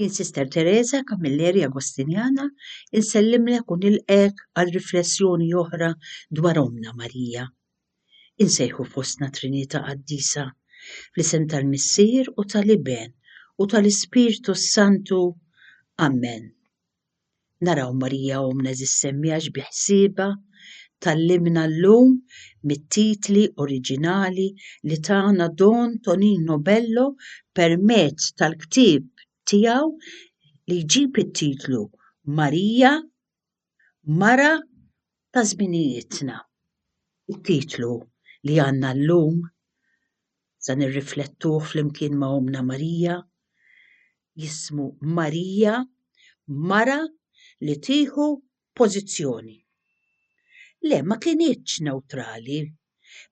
Jien Sister Teresa Camilleri Agostinjana insellimlek u nilqgħek għal riflessjoni oħra dwar Ommna Marija. Insejħu fostna Trinità Qaddisa, fl-isem tal-Missier u tal-Iben u tal-Ispirtu s-Santu. Amen. Naraw Marija Ommna Żis-Semmi għax bi ħsiebha tgħallimna llum mit-titli oriġinali li tana Don Tonino Bello permezz tal-ktieb tiegħu li jġib it-titlu Marija, Mara ta' Żminijietna. It-titlu li għandna llum sa nirriflettuh flimkien ma' Ommna Marija jismu Marija, mara li tieħu pożizzjoni. Le, ma kinitx newtrali.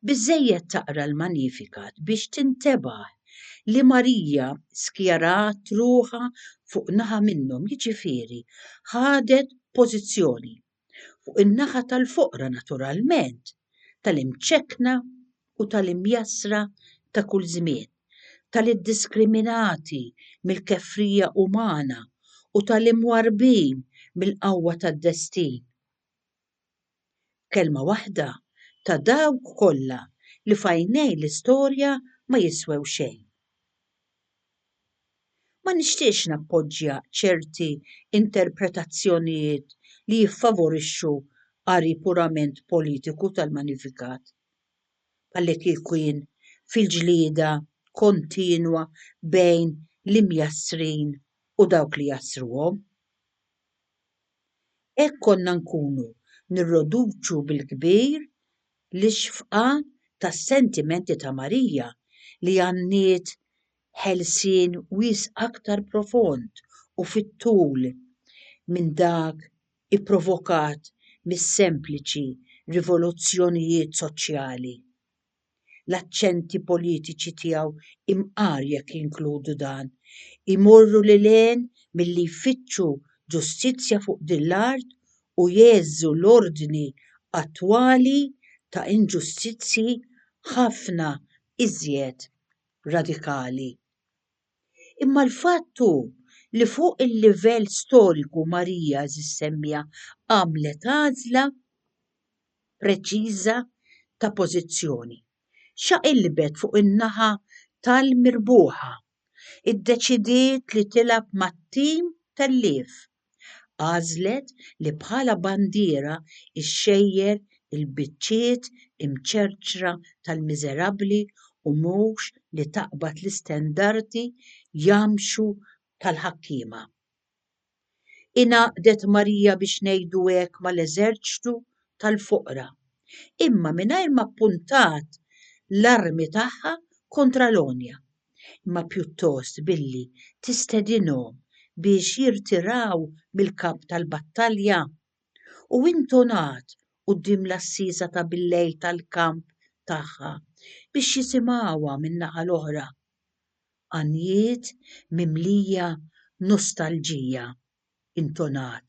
Biżżejjed taqra l-Magnificat biex tintebaħ li Marija skjarat ruħha fuq naħa minnhom, jiġifieri ħadet pożizzjoni. fuq in-naħa tal-foqra naturalment, tal-imċekkna u tal-imjassra ta' kull żmien, tal-iddiskriminati mill-kefrija umana u tal-imwarrbin mill-qawwa tad-destin. B'kelma waħda, ta' dawk kollha li f'għajnej l-istorja ma jiswew xejn. Ma nixtieqx nappoġġja ċerti interpretazzjonijiet li jiffavorixxu qari purament politiku tal-manifikat, bħallikieku jien fil-ġlieda kontinwa bejn l-imjassrin u dawk li jassruhom. Hekk konna nkunu nirroduċu bil-kbir L-ixfqa tas-sentimenti ta' Marija li għanniet ħelsien wies' aktar profond u fit-tul minn dak ipprovokat mis-sempliċi rivoluzzjonijiet soċjali, l-aċċenti politiċi tiegħu imqar jekk jinkludu dan, imorru lil hinn milli jfittxu ġustizzja fuq din l-art u jgħeżżu l-ordni attwali ta' inġustizzji ħafna iżjed radikali. Imma l-fatt hu li fuq il-livell storiku Marija żsemmija għamlet għażla preċiża ta' pożizzjoni. Xaqilbet fuq in-naħa tal-mirbuħa. Iddeċidiet li tilgħab mat-tim telliev. Għażlet li bħala bandiera xxejjer il-biċċiet imċerċra tal-miżerabbli u mhux li taqbad l-istendardi jamxu tal-ħakkiema. Ingħaqdet Marija biex ngħidu hekk mal-eżerċtu tal-foqra, imma mingħajr ma ppuntat l-armi tagħha kontra l-għonja. imma pjuttost billi tistedinhom biex jirtiraw mill-kamp tal-battalja. U intonat quddiem l-għassiesa ta' billejl tal-kamp tagħha biex jisimgħuha min-naħa l-oħra. Għanjiet mimlija nostalġija intonat.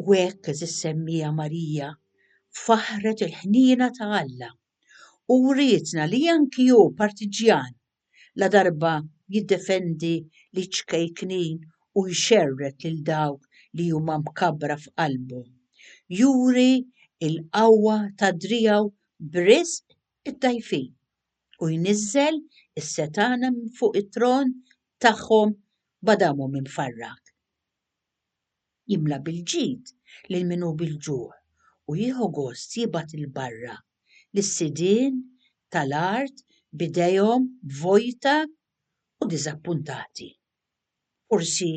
U hekk, għeżież semmiegħa Marija, faħħret il-ħniena ta' Alla u wrietna li anki hu partiġġjan, ladarba jiddefendi liċ-ċkejknin u jxerred lil dawk li huma mkabbra f'qalbu, juri l-qawwa ta' driegħu b'riżq id-dgħajfin, u jniżżel is-setgħana minn fuq it-tron tagħhom b'Adamu mfarrak. jimla bil-ġid lil min hu bil-ġuħ u jieħu gost jibgħat 'il barra lis-sidien ta' l-art b'idejhom vojta u diżappuntati. Forsi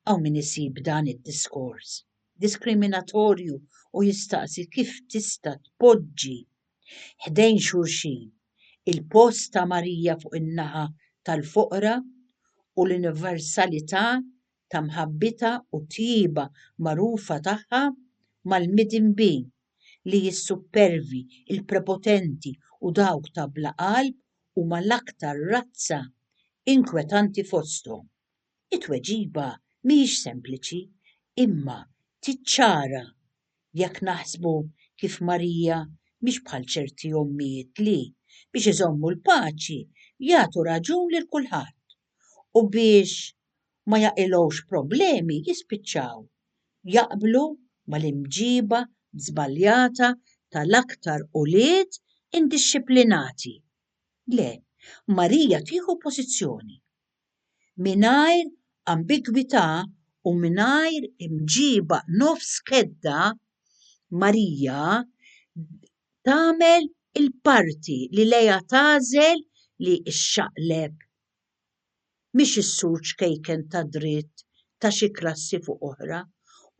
hawn min isib dan id-diskors diskriminatorju u jistaqsi kif tista' tpoġġi ħdejn xulxin il-post ta' Marija fuq in-naħa tal-foqra u l-universalità ta' mħabbitha u t-tjieba magħrufa tagħha mal-midinbi li s-suppervi, il-prepotenti u dawk ta' bla qalb huma l-aktar razza inkwetanti fosthom. It-tweġiba mhijiex sempliċi, imma tiċċara jekk naħsbu kif Marija mhix bħal ċerti ommijiet li, biex iżommu l-paċi, jagħtu raġun lil kulħadd. u biex ma jaqilgħux problemi jispiċċaw jaqblu mal-imġiba żbaljata tal-aktar ulied indixxiplinati. Le, Marija tieħu pożizzjoni. Mingħajr ambigwità u mingħajr imġiba nofs kedda, Marija tagħmel il-parti li lejha tagħżel li xxaqleb, mhix is-sur ċkejken ta' dritt ta' xi klassi fuq oħra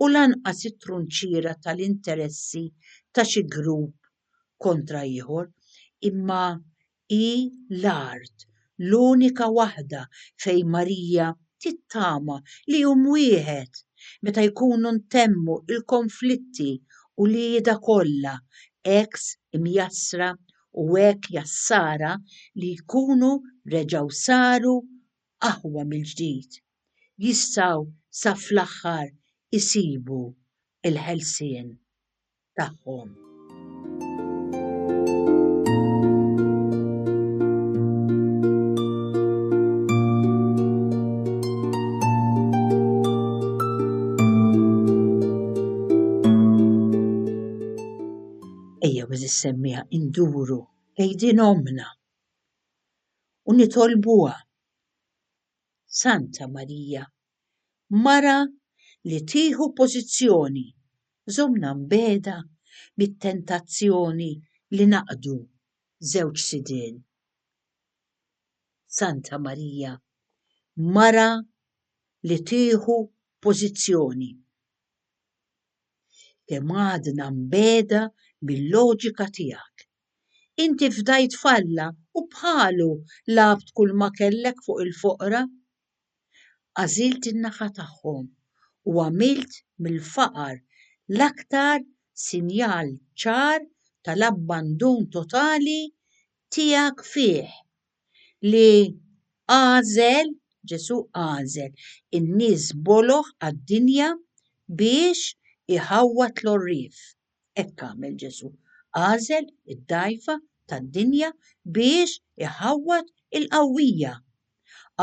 u lanqas it-trunċiera tal-interessi ta' xi grupp kontra ieħor, imma Hi l-art l-unika waħda fejn Marija tittama li jum wieħed, meta jkunu ntemmu l-konflitti u l-qiegħda kollha, hekk imjassra u hekk jassara li jkunu reġgħu saru aħwa mill-ġdid, jistgħu sa fl-aħħar isibu l-ħelsien. tagħhom. semmiha induru lejn omna u nitolbuha Santa Marija Mara li tieħu pożizzjoni żommna mbiegħda mit-tentazzjoni li naqdu żewġ sidien. Santa Marija, mara li tieħu pożizzjoni, kemm għadna mbiegħda mil-loġika tiegħek. Inti fdajt f'Alla u bħalu lgħabt kulma kellek fuq il-foqra. Għażilt in-nafa tagħhom u għamilt mill-faqar l-aktar sinjal ċar tal-abbandun totali tiegħek fih, li għażel, Ġesù għażel, in-nies boloh għad-dinja biex iħawwad l-għorrief. Hekk għamel Ġesù, għażel id-dgħajfa tad-dinja biex iħawwad il-qawwija.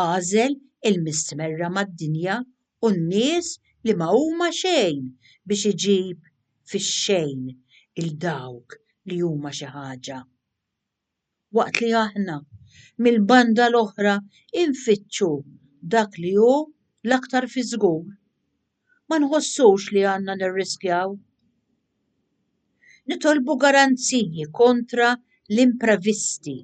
Għażel il-mistmerra mad-dinja u n-nies li ma huma xejn biex iġib fix-xejn 'il dawk li huma xi ħaġa. waqt li aħna, mill-banda l-oħra, infittxu dak li hu l-aktar fi żgur, ma nħossux li għandna nirriskjaw. Nitolbu garanziji kontra l-imprevisti.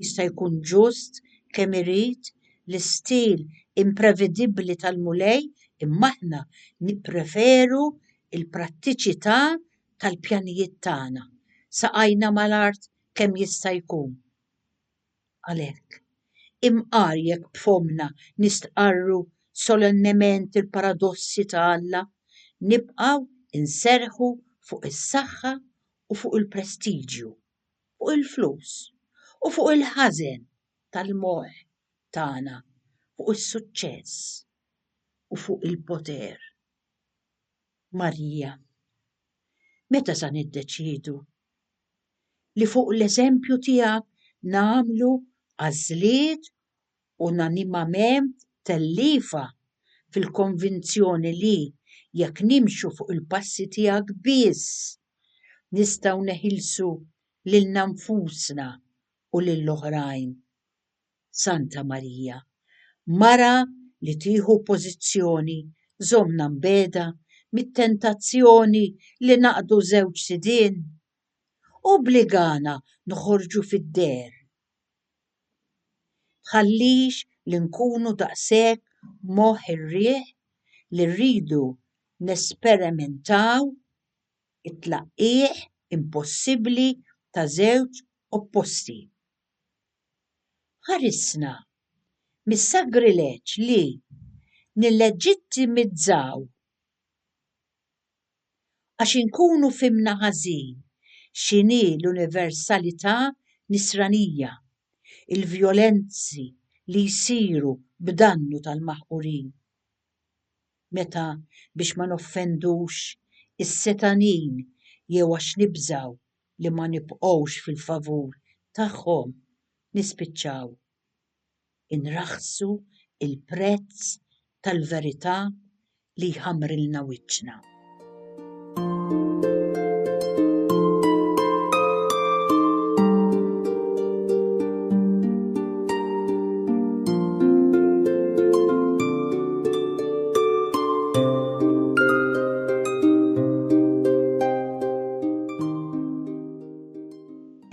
Jista' jkun ġust kemm irid l-istil imprevedibbli tal-Mulej imma aħna nippreferu l-prattiċità tal-pjanijiet tagħna, saqajna mal-art kemm jista' jkun. Għalhekk, imqar jekk b'fommna nistqarru solennement il-paradossi ta' Alla, nibqgħu nserrħu fuq is-saħħa u fuq il-prestiġju, fuq il-flus u fuq il-ħażen tal-moħħ tagħna, fuq is-suċċess u fuq il-poter. Marija, meta sa niddeċiedu li fuq l-eżempju tiegħek nagħmlu għażliet unanimament telliefa fil-konvinzjoni li jekk nimxu fuq il-passi tiegħek biss nistgħu neħilsu lilna nfusna u lill-oħrajn? Santa Marija, Mara li tieħu pożizzjoni, żommna mbegħda mit-tentazzjoni li naqdu żewġ sidien. Obbligana noħorġu fid-deher. Tħallix li nkunu daqshekk moħħ ir-riħ li rridu nesperimentaw it-tlaqqigħ impossibbli ta' żewġ opposti. Ħarisna mis-sagrileġġ li nilleġittimizzaw għax inkunu fhimna ħażin x'inhi l-universalità Nisranija, il-vjolenzi li jsiru b'dannu tal-maħqurin, meta biex ma noffendux is-setanin jew għax nibżgħu li ma nibqgħux fil-favur tagħhom nispiċċaw inraħħsu l-prezz tal-verità li jħammrilna wiċċna.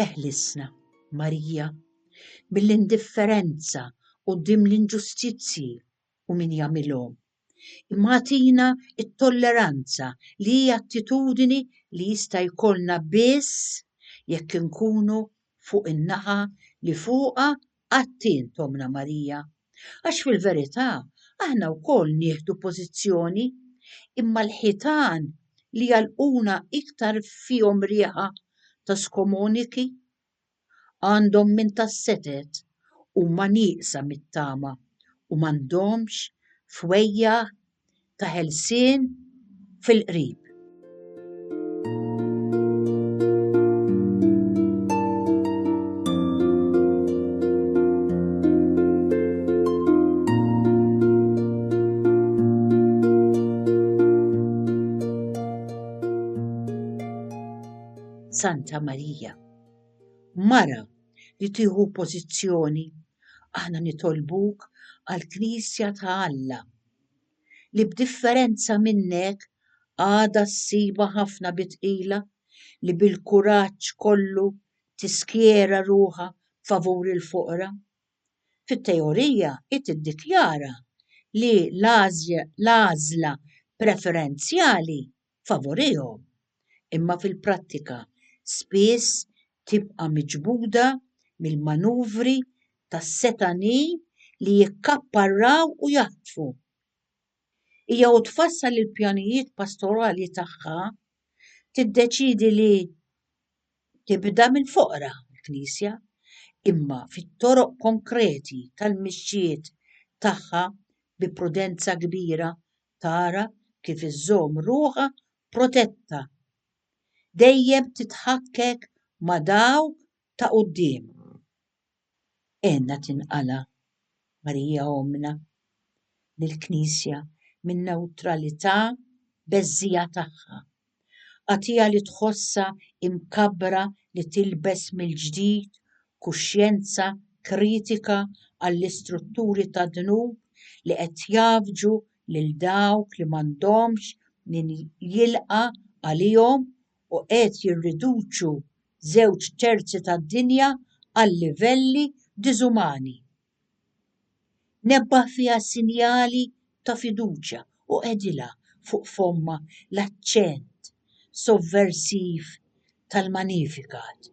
Eħlisna, Marija, mill-indifferenza quddiem l-inġustizzji u min jagħmilhom, imma agħtina t-tolleranza li hi attitudni li jista' jkollna biss jekk inkunu fuq in-naħa li fuqha Atti int ommna Marija, għax fil-verità aħna wkoll nieħdu pożizzjoni, imma l-ħitan li jagħlquna iktar fihom riħa ta' skomuniki. Għandhom minn tas-setgħet, huma nieqsa mit-tama u m'għandhomx fwejjagħ ta' ħelsien fil-qrib. Santa Marija. Mara li tieħu pożizzjoni, aħna nitolbuk għall-Knisja ta' Alla li b'differenza minnek għadha ssibha ħafna bi tqila li bil-kuraġġ kollu tiskjera ruħha favur il-foqra. Fit-teorija hi tiddikjara li l-għażla preferenzjali favorihom, imma fil-prattika spiss tibqa' miġbuda mill-manuvri tas-setgħanin li jikkapparraw u jaħtfu. Hija u tfassal il-pjanijiet pastorali tagħha tiddeċiedi li tibda mill-foqra l-Knisja, imma fit-toroq konkreti tal-mixjiet tagħha bi prudenza kbira tara kif iżżomm ruħha protetta. Dejjem titħakkek ma' dawk ta' quddiem. Għenna tinqala', Marija Ommna, lill-Knisja min-newtralità beżżija tagħha. Għatija li tħossha imkabbra li tilbes mill-ġdid kuxjenza kritika għall-istrutturi tad-dnub li qed jgħaffġu lil dawk li m'għandhomx min jilqa' għalihom u qed jirriduċu żewġ terzi tad-dinja għal livelli diżumani. Nebbaħ fiha sinjali ta' fiduċja u qegħdilha fuq fommha l-aċċent sovversiv tal-Magnificat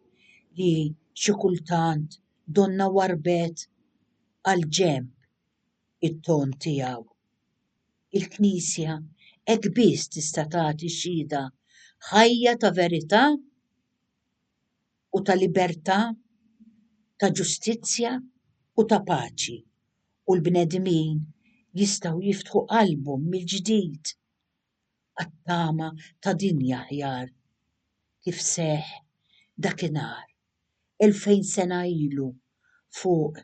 li xi kultant donnha warbet għal ġenb it-ton tiegħu. Il-Knisja hekk biss tista' tagħti xhieda ħajja ta' verità. u ta' libertà, ta' ġustizzja u ta' paċi, u l-bnedmin jistgħu jiftħu qalbhom mill-ġdid għat-tama ta' dinja aħjar, kif seħħ dakinhar, elfejn sena ilu, fuq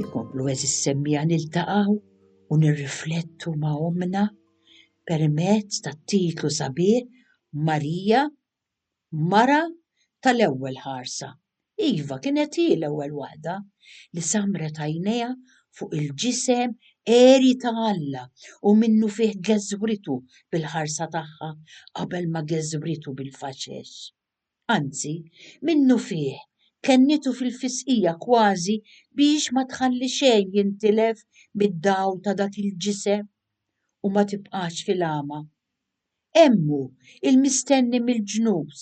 Jkomplu eżis semmija niltaqaw u nirriflettu ma' omna permezz tat-titlu sabiħ Marija Mara tal-ewwel ħarsa. Iva, kienet hi l-ewwel waħda li sammret għajnejha fuq il-ġisem għeri ta' Alla u minnufih geżwritu bil-ħarsa tagħha qabel ma geżwritu bil-faxex. Anzi, minnufih kennitu fil-fisqija kważi biex ma tħalli xejn jintilef mid-dawl ta' dak il-ġisem u ma tibqax fil-għama. Hemm hu, il-mistenni mill-ġnus,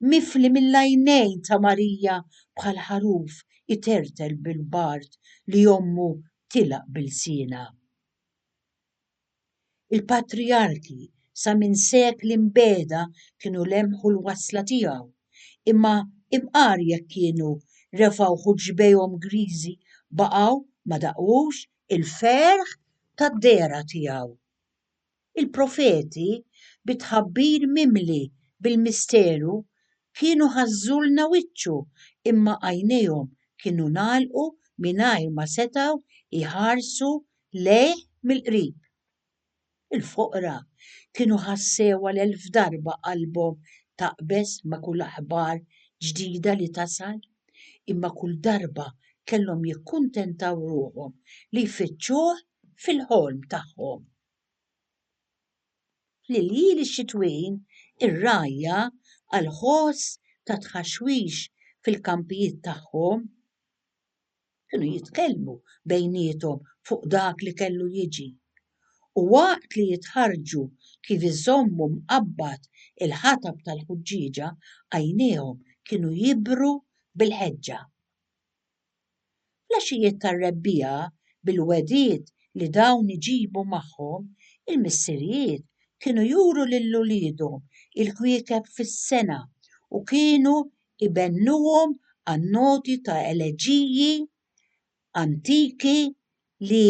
mifli mill-għajnejn ta' Marija bħal ħaruf itertel bil-bard li ommu tilgħaq b'ilsienha. Il-patrijarki sa minn sekli mbegħda kienu lemħu l-wasla tiegħu, imma imqar jekk kienu refgħuh u ġbejhom griżi baqgħu ma daqux il-ferħ tad-dehra tiegħu. Il-profeti, bi tħabbir mimli bil-misteru, kienu ħażżulna wiċċu imma għajnejhom kienu ngħalqu mingħajr ma setgħu jħarsu lejh mill-qrib. Il-foqra kienu ħassewha l-elf darba qalbhom taqbeż ma' kull aħbar ġdida li tasal, imma kull darba kellhom jikkuntentaw ruħhom li jfittxuh fil-ħolm tagħhom. Fl-iljil ix-xitwin, ir-rgħajja, għal ħoss ta' tħaxwix fil-kampijiet tagħhom, kienu jitkellmu bejniethom fuq dak li kellu jiġi, u waqt li jitħarrġu kif iżommu mqabbad il-ħatab tal-ħuġġieġa, għajnejhom kienu jibru bil-ħeġġa. Fl-għaxijiet tar-rebbiegħa, bil-wegħdiet li dawn iġibu magħhom, il-missirijiet kienu juru lil uliedhom il-kwiekeb fis-sengħa u kienu jbennuhom għan-noti ta' eleġiji antiki li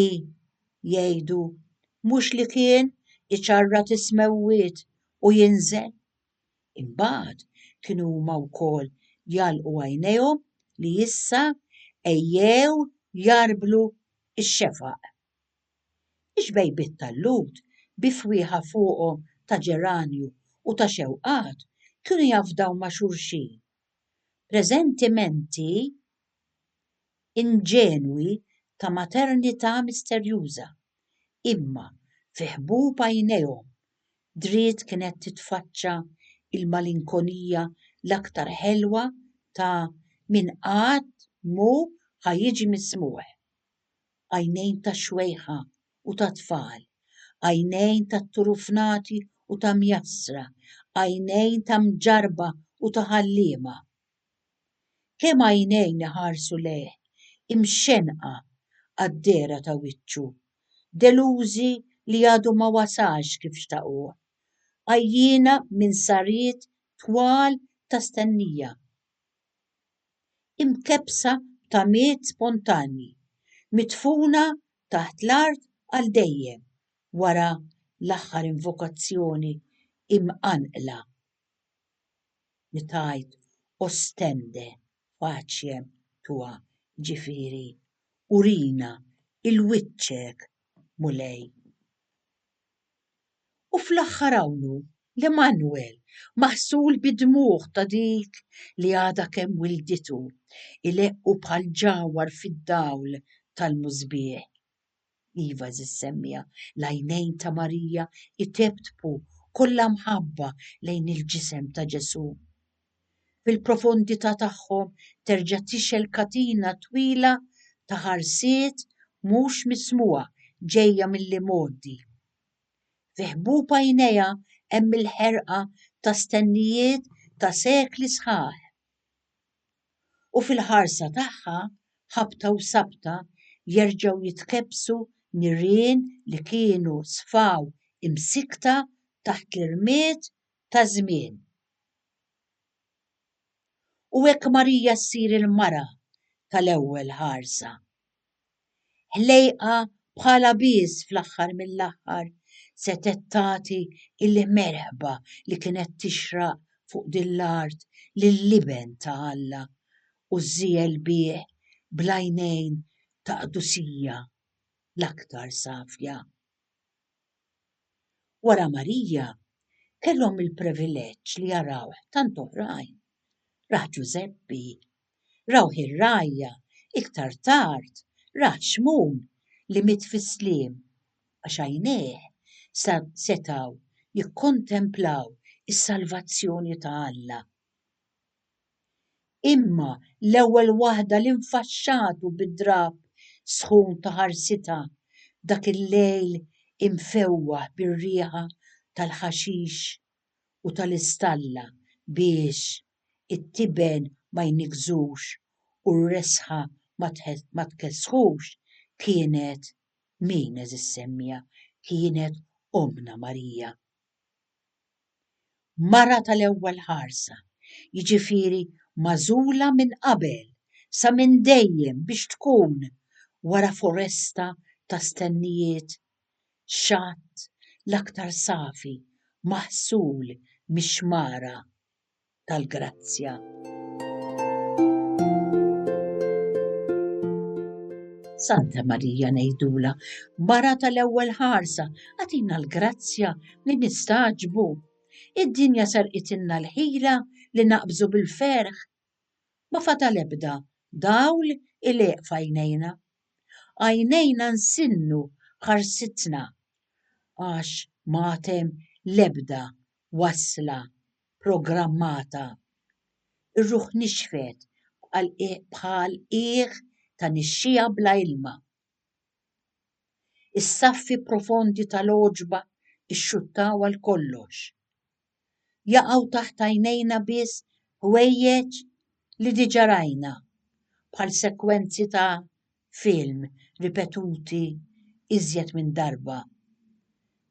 jgħidu, Mhux li kien, iċarrat is-smewwiet u jinżel. Imbagħad kienu huma wkoll jagħlqu għajnejhom li issa ejjew jarblu x-xefaq. Ix-xbejbiet tal-Lhud bi fwieħa fuqhom ta' ġeranju u ta' xewqat kienu jafdaw ma' xulxin presentimenti inġenwi ta' maternità misterjuża, imma fi ħbub għajnejhom, dried kienet titfaċċa l-malinkonija l-aktar ħelwa ta' min qatt m'hu ħa jiġi mismugħ. għajnejn tax-xwejħa u tat-tfal, għajnejn tat-turufnati u ta' mjassra, għajnejn ta' mġarrba u ta' ħalliema. Kemm għajnejn iħarsu lejh, imxenqa għad-dehra ta' wiċċu, delużi li għadu ma wasalx kif xtaquh, għajjiena minn sariet twal ta' stennija. imkebbsa ta' miet spontanji, midfuna taħt l-art għal dejjem wara l-aħħar invokazzjoni imqanqla li tgħid Ostende faciem tua, jiġifieri Urina 'l wiċċek, Mulej. U fl-aħħar hawnhu l-Immanwel, maħsul bid-dmugħ ta' dik li għadha kemm wilditu, ileqqu bħal ġawhar fid-dawl tal-musbieħ. Iva, għeżież semmiegħa, l-għajnejn ta' Marija jtebtbu kollha mħabba lejn il-ġisem ta' Ġesù. fil-profondità tagħhom terġa' tixgħel katina twila ta' ħarsiet mhux mismugħa ġejja mill-imgħoddi. Fi ħbub għajnejha hemm il-ħerqa ta' stennijiet ta' sekli sħaħ. U fil-ħarsa tagħha, ħabta u sabta, jerġgħu jitkebbsu nirien li kienu sfaw imsikkta taħt l-irmied ta' żmien. U hekk Marija ssir il-mara tal-ewwel ħarsa. Ħlejqa bħalha biss fl-aħħar mill-aħħar setgħet tagħti l-merħba li kienet tixraq fuq din l-art lill-Iben ta' Alla u żżiegħel bih bl-għajnejn ta' qdusija l-aktar safja. Wara Marija, kellhom il-privileġġ li jarawh tant oħrajn. Rah Ġużeppi. Rawh ir-rgħajja, iktar tard, rah Xmun li miet fis-sliem, għax għajnejh sa setgħu jikkontemplaw is-salvazzjoni ta' Alla. Imma l-ewwel waħda li nfaxxatu bid-drab sħun ta' ħarsitha dak il-lejl imfewwaħ bir-riħa tal-ħaxix u tal-istalla biex it-tiben ma jniggżux u r-resħa ma tkessħux kienet min, għeżiż Semmija? Kienet Ommna Marija. mara tal-ewwel ħarsa, jiġifieri magħżula minn qabel sa minn dejjem biex tkun, wara foresta ta' stennijiet, xatt l-aktar safi maħsul mix-xmara. tal-grazzja. Santa Marija ngħidula, mara tal-ewwel ħarsa, għatina l-grazzja li nistaġbu. Id-dinja sarqitilna l-ħila li naqbżu bil-ferħ. Ma fadal ebda dawl il-eq fajnejna. Għajnejna nsinnu ħarsitna għax matem lebda wasla, programmata. Ir-ruħ nixfet bħal qiegħ ta' nixxiegħa bla ilma. Is-saffi profondi tal-għoġba xxuttaw għal kollox. Jaqgħu taħt għajnejna biss ħwejjeġ li diġà rajna, bħal sekwenzi ta' film ripetuti iżjed minn darba.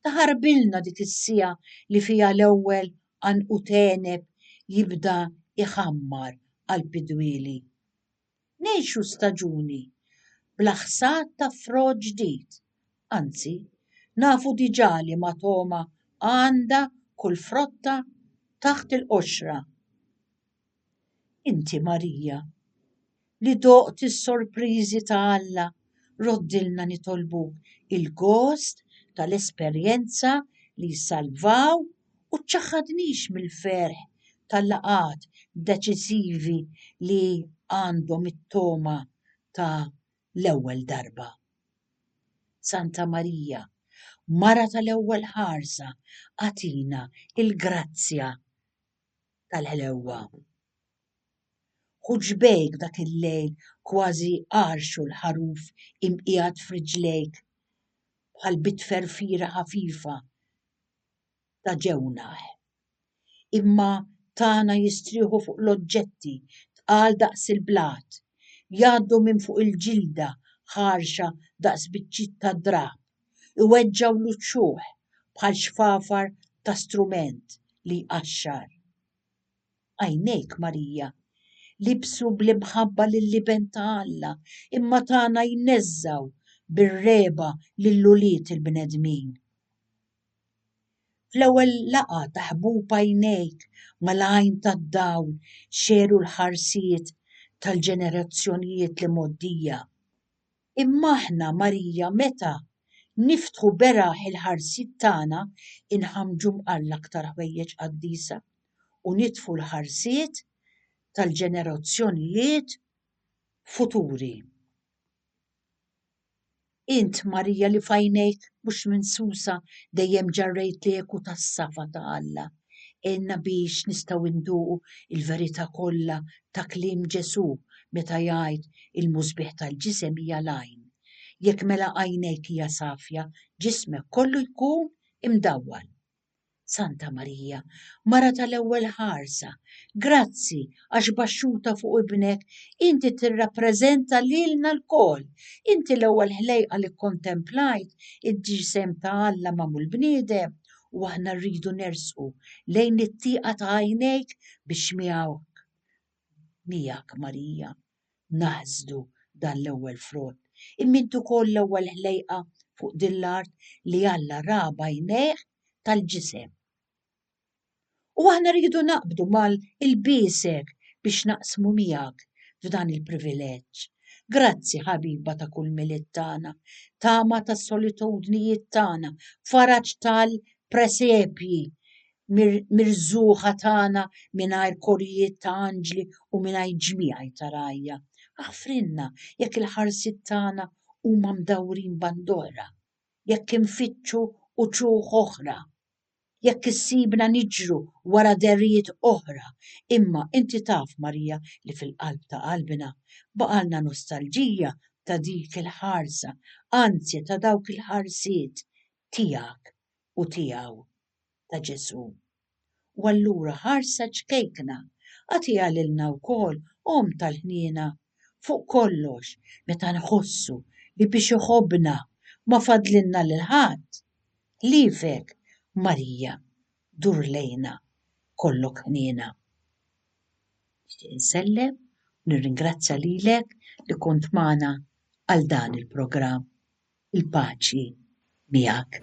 Taħarbilna dik is-siegħa li fiha l-ewwel għanqud għeneb jibda jħammar qalb id-dwieli. Ngħixu staġuni bla ħsad ta' frott ġdid, anzi, nafu diġà liema togħma għandha kull frotta taħt il-qoxra. Inti Marija, li doqt is-sorpriżi ta' Alla, roddilna nitolbuk il-gost tal-esperjenza li jsalvaw u ċċaħħadnix mill-ferħ tal-laqgħat deċisivi li għandhom it-togħma ta' l-ewwel darba. Santa Marija, Mara tal-Ewwel Ħarsa, agħtina l-grazzja tal-ħlewwa. Hu ġbejk dak il-lejl kważi għarx u l-ħaruf imqiegħed f'riġlejk bħal bitferfira ħafifa ta' ġewnaħ. Imma tagħna jistrieħu fuq l-oġġetti tqal daqs il-blat, jgħaddu minn fuq il-ġilda ħarxa daqs biċċiet ta' drab iweġġgħu l-uċuħ bħal xfafar ta' strument li jqaxxar. Għajnejk, Marija, libsu bl-imħabba lill-Iben ta' Alla, imma tagħna jneżżgħu bir-regħba lil ulied il-bnedmin. Fl-ewwel laqgħa ta' ħbub għajnejk mal-għajn tad-dawl xeru l-ħarsiet tal-ġenerazzjonijiet li mgħoddija. Imma aħna, Marija, meta Niftħu beraħ il-ħarsiet tagħna, Inħammġu mqar l-aktar ħwejjeġ qaddisa, U nitfu l-ħarsiet tal-ġenerazzjonijiet futuri. Int, Marija, li f'għajnejk mhux minsusa dejjem ġarrejt l-eku tas-safa ta' Alla, Għinna biex nistgħu nduqu l-verità kollha ta' kliem Ġesù meta jgħid, Il-musbieħ tal-ġisem hija l-għajn. Jekk mela għajnejk hija safja, ġismek kollu jkun imdawwal. Santa Marija, Mara tal-Ewwel Ħarsa, grazzi għax baxxuta fuq ibnek inti tirrappreżenta lilna lkoll. Inti l-ewwel ħlejqa li kkontemplajt id-ġisem ta' Alla magħmul bniedem u aħna rridu nersqu lejn it-tieqa ta' għajnejk biex miegħek, miegħek Marija, naħsdu dan l-ewwel frott. Imma int ukoll l-ewwel ħlejqa fuq din l-art li Alla ra b'għajnejh tal-ġisem. U aħna rridu naqbdu mal ilbiesek biex naqsmu miegħek f'dan il-privileġġ. Grazzi ħabiba ta' kull Milied tagħna, tama tas-solitudnijiet tagħna, faraġ tal presepji, mirżugħa tagħna mingħajr korijiet ta' anġli u mingħajr ġmiegħi ta' rgħajja. Aħfrilna jekk il-ħarsiet tagħna huma mdawrin band'oħra, jekk infittxu uċuħ oħra. jekk issibna niġru wara dehrijiet oħra, imma inti taf, Marija, li fil-qalb ta' qalbna baqgħalna nostalġija ta' dik il-ħarsa, anzi ta' dawk il-ħarsiet, tiegħek u tiegħu, ta' Ġesù. U allura ħarsa ċkejkna, agħtiha lilna wkoll, Omm tal-Ħniena, fuq kollox meta nħossu li biex iħobbna ma fadlilna lil ħadd, Ħliefek, Marija, dur lejna, kollok ħniena. Nixtieq insellem u nirringrazzja lilek li kont magħna għal dan il-programm. Il-paċi miegħek.